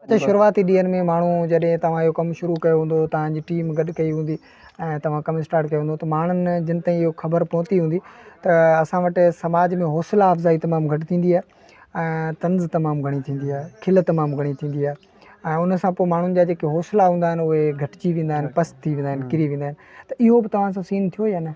اچا شروعاتي ڏينهن ۾ ماڻهو جڏهن توهان اهو ڪم شروع ڪيو هوندو توهان جي ٽيم گڏ ڪئي هوندي ۽ توهان ڪم اسٽارٽ ڪيو هوندو ته ماڻهن جن تائين اهو خبر پهتي هوندي ته اسان وٽ سماج ۾ حوصلا افزائي تمام گهٽ ٿيندي آهي ۽ طنز تمام گهڻي ٿيندي آهي کل تمام گهڻي ٿيندي آهي ۽ ان سان پوء ماڻهن جا جيڪي حوصلا هوندا آهن اهي گهٽجي ويندا آهن پست ٿي ويندا آهن ڪري ويندا آهن ته اهو بھ توهان سان سين ٿيو يا نھ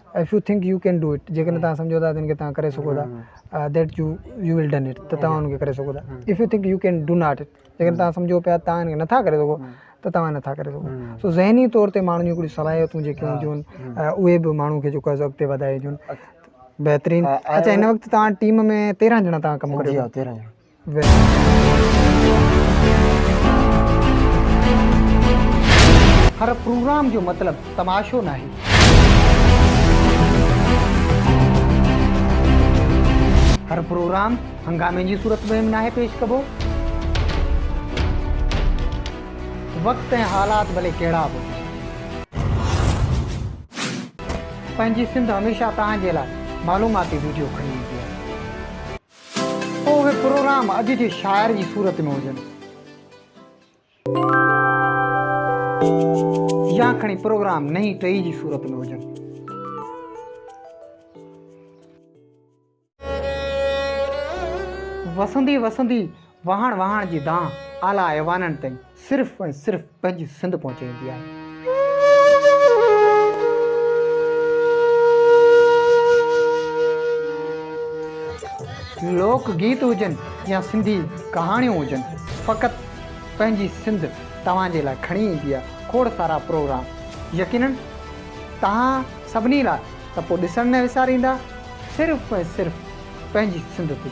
if you think you can do it جيڪڏهن توهان سمجهو ٿا ته ان کي توهان ڪري سگهو ٿا that you you will done it ته توهان ان کي ڪري سگهو ٿا if you think you can do not it جيڪڏهن توهان سمجهو پيا توهان ان کي نٿا ڪري سگهو ته توهان نٿا ڪري سگهو سو ذهني طور تي ماڻهن جون هڪڙيون صلاحيتون جيڪي هونديون آهن اهي به ماڻهو کي جيڪو اڳتي وڌائي ڏيون بهترين اچا هن وقت توهان ٽيم ۾ تيرهن ڄڻا توهان ڪم ڪريو ٿا تيرهن ڄڻا هر پروگرام جو مطلب تماشو ناهي. هر پروگرام هنگامي جي صورت ۾ به ناهي پيش ڪبو. وقت ۽ حالات ڀلي ڪهڙا به هجن. پنهنجي سنڌ هميشه توهان جي لاء معلوماتي ويڊيو کڻي ايندي آهي. اهي پروگرام اڄ جي شاعر جي صورت ۾ هجن يا کڻي پروگرام نئين ٽهي جي صورت ۾ هجن وسندي وسندي وهاڻ وهاڻ جي دانهن اعليٰ ايوانن تائين صرف ۽ صرف پنهنجي سنڌ پهچائيندي آهي. لوڪ گيت هجن يا سنڌي ڪهاڻيون هجن فقط پنهنجي سنڌ توهان جي لاء کڻي ايندي آهي کوڙ سارا پروگرام يقينن توهان سڀني لاء ته پوء ڏسڻ نه وساريندا صرف ۽ صرف پنهنجي سنڌ تي.